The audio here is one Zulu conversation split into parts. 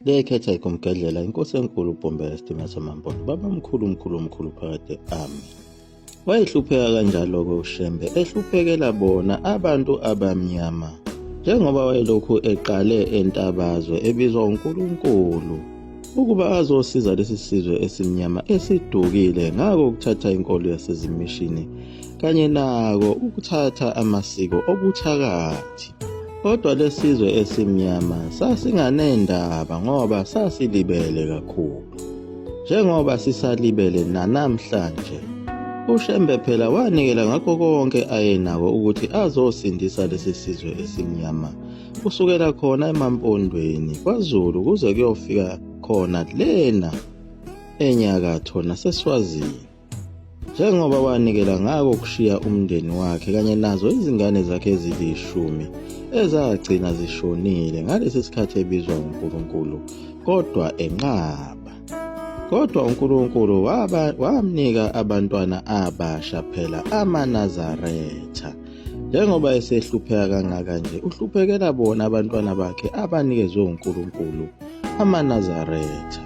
Bekhetha ikumgedlela inkosi enkulu uBhombela Stima Samambona baba mkhulu mkhulu mkhulu phakade ami. Wayehlupheka kanjalo-ke uShembe ehluphekela bona abantu abamnyama njengoba wayelokhu eqale entabazwe ebizwa uNkulunkulu ukuba azosiza lesi sizwe esimnyama esidukile ngako ukuthatha inkolo yasezimishini kanye nako ukuthatha amasiko obuthakathi. Kodwa lesizwe esimnyama sasinganendaba ngoba sasilibele kakhulu. Njengoba sisalibele nanamhlanje. UShembe phela wanikela ngakho konke ayenako ukuthi azosindisa lesi sizwe esimnyama kusukela khona emampondweni kwaZulu kuze kuyofika khona lena enyakatho naseswazini. njengoba wanikela ngako kushiya umndeni wakhe kanye nazo izingane zakhe ezilishumi ezagcina zishonile ngalesi sikhathi ebizwa uNkulunkulu kodwa enqaba kodwa uNkulunkulu wamnika abantwana abasha phela amaNazaretha Njengoba esehlupheka kangaka nje, uhluphekela bona abantwana bakhe abanikezwe uNkulunkulu, amaNazaretha.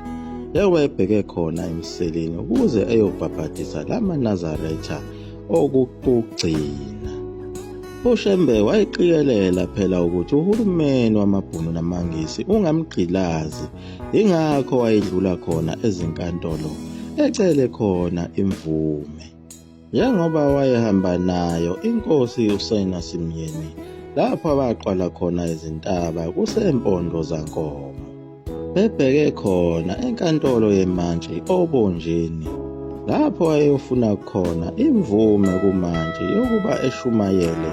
Njengoba ebheke khona emseleni ukuze eyobhabhadisa la maNazaretha okugcina. UShembe wayiqikelela phela ukuthi uhulumeni wamaBhunu namaNgisi ungamgqilazi, yingakho wayedlula khona ezinkantolo ecele khona imvume. Njengoba wayehamba nayo inkosi uSena Simyeni lapho abaqwala khona izintaba kusempondo zankomo bebheke khona enkantolo yemantshi obonjeni lapho ayofuna khona imvume kumantshi yokuba eshumayele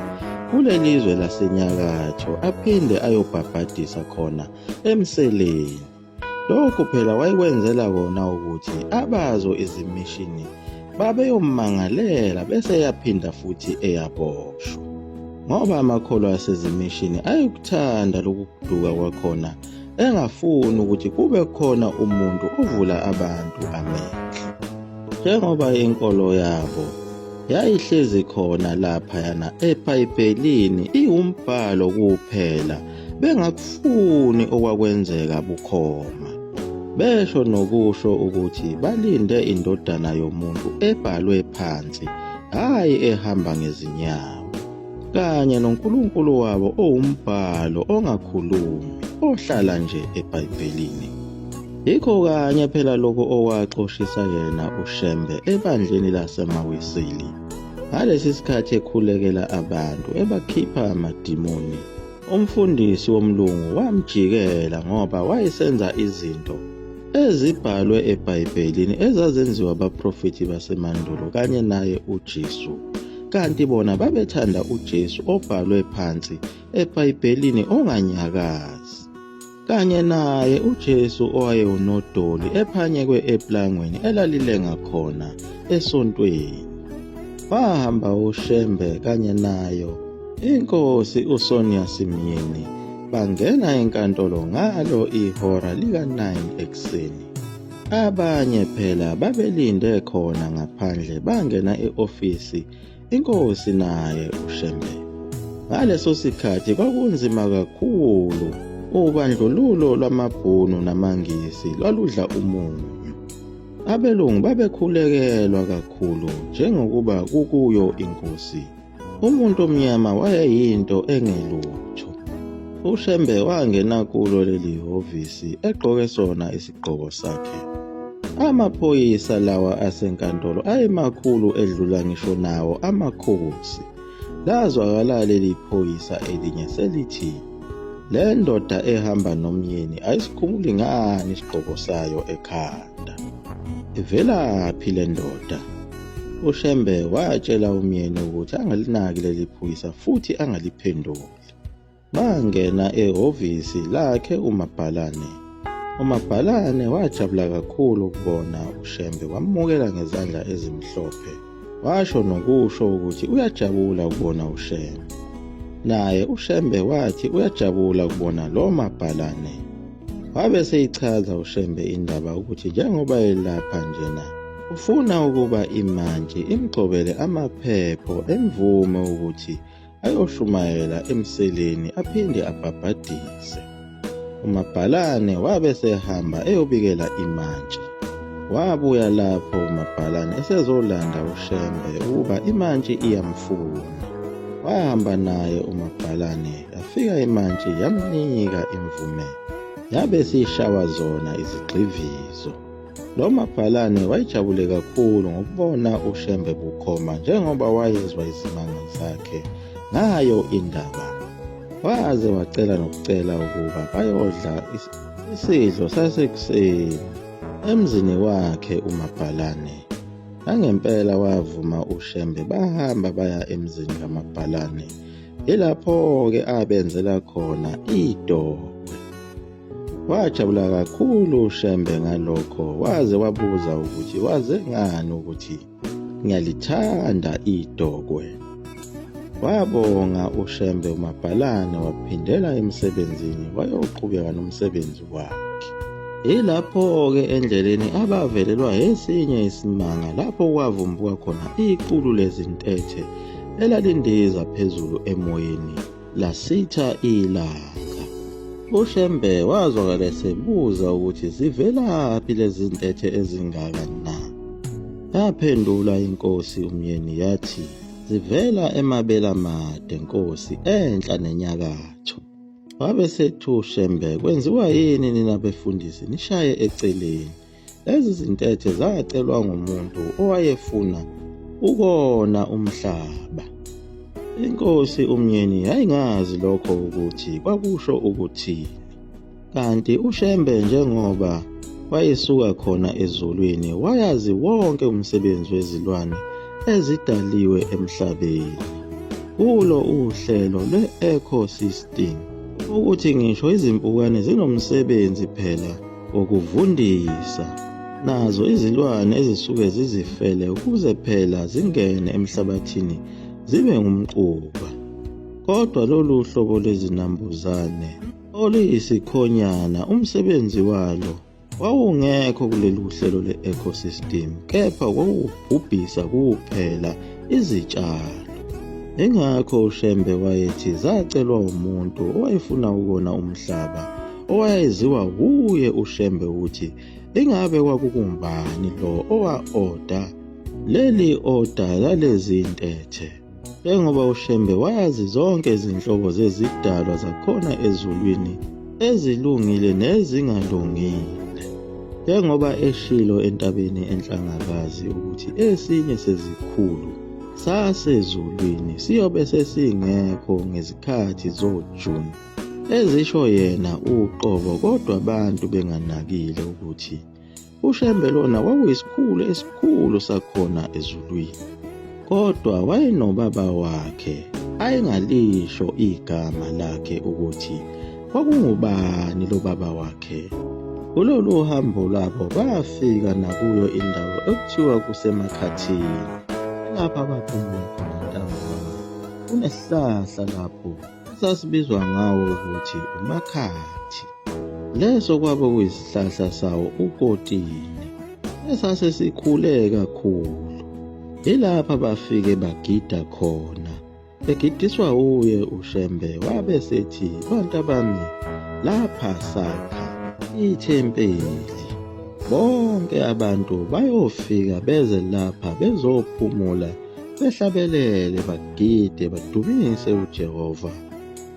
kuleli zwe lasenyakatho aphinde ayobhabhadisa khona emseleni Lokhu phela wayekwenzela kona ukuthi abazo izimishini babeyommangalela bese yaphinda futhi eyaboshwa ngoba amakholo asezimishini ayekuthanda lokuduka kwakhona engafuni ukuthi kube khona umuntu ovula abantu amehlo njengoba inkolo yabo yayihlezi khona laphayana epayipelini iwumbhalo kuphela bengakufuni okwakwenzeka bukhoma besho nokusho ukuthi balinde indodana yomuntu ebhalwe phansi hhayi ehamba ngezinyawo kanye noNkulunkulu wabo owumbhalo ongakhulumi ohlala nje eBhayibhelini yikho kanye phela lokho owaxoshisa yena uShembe ebandleni laseMawisili ngalesi sikhathi ekhulekela abantu ebakhipha amadimoni Umfundisi womlungu wamjikela ngoba wayesenza izinto ezibhalwe eBhayibhelini ezazenziwa abaprofethi basemandulo kanye naye uJesu. Kanti bona babethanda uJesu obhalwe phansi eBhayibhelini onganyakazi. kanye naye uJesu owayewunodoli ephanyekwe eplangweni elalilenga khona esontweni. Bahamba uShembe kanye nayo inkosi uSonia Simyeni bangena enkantolo ngalo ihora lika-9 ekuseni. Abanye phela babelinde khona ngaphandle bangena e-ofisi Inkosi naye uShembe. Ngaleso sikhathi kwakunzima kakhulu. Ubandlululo lwamaBhunu namaNgisi lwaludla umunyu. Abelungu babekhulekelwa kakhulu njengokuba kukuyo inkosi. Umuntu omnyama wayeyinto engelutho. UShembe wangena kulo leli hhovisi egqoke sona isigqoko sakhe. Amaphoyisa lawa asenkantolo ayemakhulu edlula ngisho nawo amakhosi. Lazwakala leli phoyisa elinye selithi le ndoda ehamba nomyeni ayisikhumuli ngani isigqoko sayo ekhanda. Ivelaphi le ndoda? UShembe watshela umyeni ukuthi angalinaki leli phoyisa futhi angaliphenduli. Bangena ehhovisi lakhe uMabhalane. UMabhalane wajabula kakhulu ukubona uShembe wamukela ngezandla ezimhlophe. Washo nokusho ukuthi uyajabula ukubona uShembe. Naye uShembe wathi uyajabula ukubona lo Mabhalane. Wabe seyichaza uShembe indaba ukuthi njengoba elapha njena ufuna ukuba imantshi imgxobele amaphepho emvume ukuthi ayoshumayela emseleni aphinde abhabhadise. UMabhalane wabe sehamba eyobikela imantshi. Wabuya lapho uMabhalane esezolanda uShembe ukuba imantshi iyamfuna. Wahamba naye uMabhalane yafika imantshi yamnika imvume. Yabe siyishawa zona izigxivizo. Lo mabhalane wayejabule kakhulu ngokubona uShembe bukhoma njengoba wayezwa izimanga zakhe ngayo indaba. Waze wacela nokucela ukuba bayodla isidlo sasekuseni emzini wakhe umabhalane. Nangempela wavuma uShembe bahamba baya emzini kamabhalane. Yilapho-ke abenzela khona idokwe. Wajabula kakhulu uShembe ngalokho waze wabuza ukuthi waze ngani ukuthi ngiyalithanda idokwe. Wabonga uShembe uMabhalane waphindela emsebenzini wayoqhubeka nomsebenzi wakhe. Yilapho-ke endleleni abavelelwa esinye isimanga lapho kwavumbuka khona iqulu lezintethe elalindiza phezulu emoyeni. lasitha ilanga ushembe wazwakala esebuza ukuthi zivelaphi lezi ntethe ezingaka na yaphendula inkosi umyeni yathi zivela emabela made nkosi enhla nenyakatho wabe sethu shembe kwenziwa yini nina befundisi nishaye eceleni Lezi zintethe zacelwa ngumuntu owayefuna ukona umhlaba. Inkosi uMnyeni yayingazi lokho ukuthi kwakusho ukuthini. Kanti uShembe njengoba wayesuka khona ezulwini wayazi wonke umsebenzi wezilwane ezidaliwe emhlabeni. Kulo uhlelo lwe-ecosystem ukuthi ngisho izimpukane zinomsebenzi phela Ukuvundisa nazo izilwane ezisuke zizifele ukuze phela zingene emhlabathini zibe ngumquba. Kodwa lolu hlobo lwezinambuzane oluyisikhonyana umsebenzi walo wawungekho kuleli hlelo le-ecosystem kepha kwawubhubhisa kuphela izitshalo. Ingakho uShembe wayethi zacelwa umuntu owayefuna ukona umhlaba owayeziwa wuye uShembe ukuthi ingabe kwakukumbani lo owa-oda leli oda lalezi ntethe njengoba uShembe wayazi zonke izinhlobo zezidalwa zakhona ezulwini ezilungile nezingalungile njengoba eshilo entabeni enhlangakazi ukuthi esinye sezikhulu sasezulwini siyobe sesingekho ngezikhathi zoJuni ezisho yena uqobo kodwa abantu benganakile ukuthi uShembe lona kwakuyisikhulu esikhulu sakhona ezulwini kodwa wayenobaba wakhe ayengalisho igama lakhe ukuthi kwakungubani lo baba wakhe kulolu hambo lwabo bafika nakuyo indawo ekuthiwa kusemakhathini lapha baphumule khona ntambama kunehlahla lapho esasibizwa ngawo ukuthi umakhathi. Leso kwabe kuyisihlahla sawo ukotini esase sikhule kakhulu. Ilapha bafike bagida khona. Egidiswa uye uShembe wabe sethi bantu abami lapha sakha ithempeli. Bonke abantu bayofika beze lapha bezophumula behlabelele bagide badumise uJehova.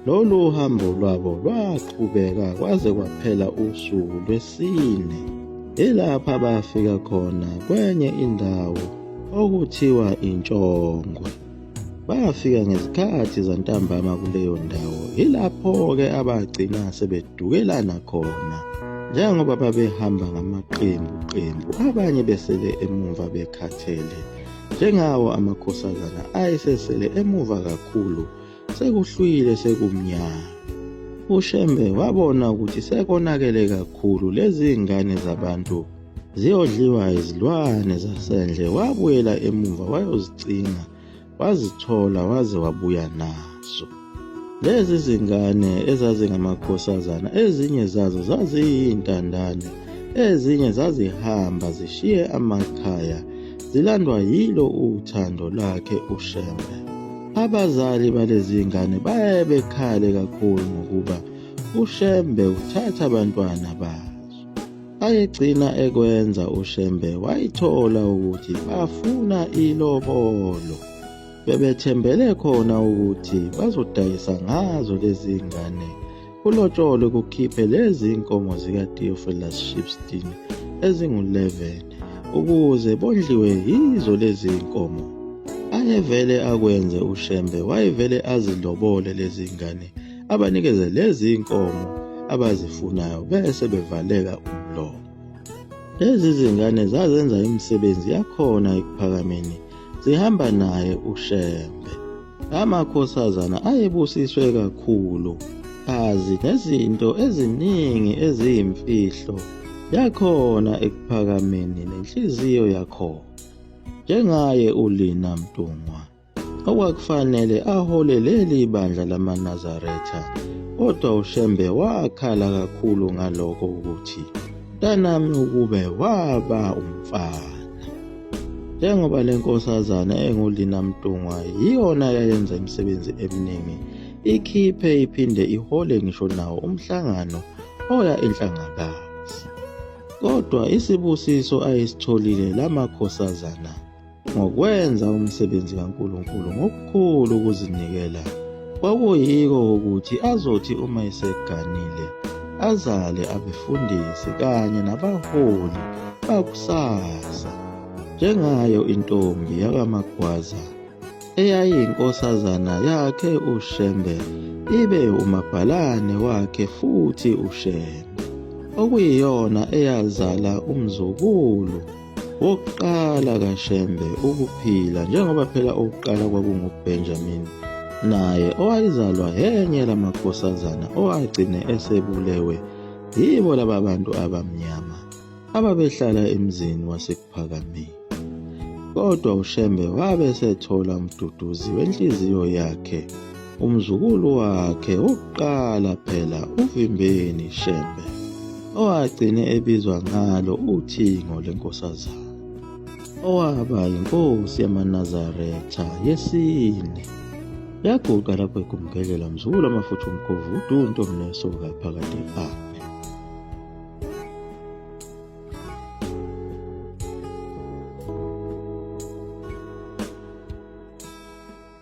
Lolu uhambo lwabo lwaqhubeka kwaze kwaphela usuku lwesine. Ilapha bafika khona kwenye indawo okuthiwa intshongwe. Bafika ngezikhathi zantambama kuleyo ndawo. Ilapho-ke abagcina sebedukelana khona. Njengoba babehamba ngamaqembu qembu, abanye besele emumva bekhathele. Njengawo amakhosazana ayesesele emuva kakhulu sekuhlwile sekumnyama. UShembe wabona ukuthi sekonakele kakhulu lezi ngane zabantu ziyodliwa izilwane zasendle wabuyela emuva wayozicinga wazithola waze wabuya nazo. Lezi zingane ezazingamakhosazana ezinye zazo zaziyintandane, ezinye zazihamba zishiye amakhaya zilandwa yilo uthando lakhe uShembe. Abazali balezi ngane baye bekhale kakhulu ngokuba uShembe uthatha abantwana bazo. Ayegcina ekwenza uShembe wayithola ukuthi bafuna ilobolo. bebethembele khona ukuthi bazodayisa ngazo lezi ngane kulotsholo kukhiphe lezi nkomo zikaTeofilus Shipstein ezingu-11 ukuze bondliwe yizo lezi nkomo angevele akwenze uShembe wayevele azilobole lezi ngane abanikeze lezi nkomo abazifunayo bese bevaleka umlomo Lezi zingane zazenza imisebenzi yakhona ekuphakameni zihamba naye uShembe. Amakhosazana ayebusiswe kakhulu azi ngezinto eziningi eziyimfihlo yakhona ekuphakameni nenhliziyo yakhona njengaye uLina Mtungwa. okwakufanele ahole leli bandla lamaNazaretha kodwa uShembe wakhala kakhulu ngaloko ukuthi mntanami ukube waba umfana njengoba le nkosazana engulina mntungwa yiyona yayenza imisebenzi eminingi ikhiphe iphinde ihole ngisho nawo umhlangano oya enhlangakazi kodwa isibusiso ayisitholile lamakhosazana Ngokwenza umsebenzi kaNkulunkulu ngokukhulu ukuzinikela kwakuyiko ukuthi azothi uma eseganile azale abefundisi kanye nabaholi bakusasa njengayo intombi yakaMagwaza eyayiyinkosazana yakhe uShembe ibe umabhalane wakhe futhi uShembe okuyiyona eyazala umzukulu Wokuqala kaShembe ukuphila njengoba phela owokuqala kwakunguBenjamin naye owayezalwa enye lamakhosazana owagcine esebulewe yibo laba bantu abamnyama ababehlala emzini wasekuphakameni. Kodwa uShembe wabe esethola umduduzi wenhliziyo yakhe. umzukulu wakhe wokuqala phela uVimbeni Shembe owagcine ebizwa ngalo uThingo lenkosazana owaba yinkosi yamaNazaretha yesine yaguqa lapho egumkelela mzukulu amafutha umkhovu udunto mnesoka phakade a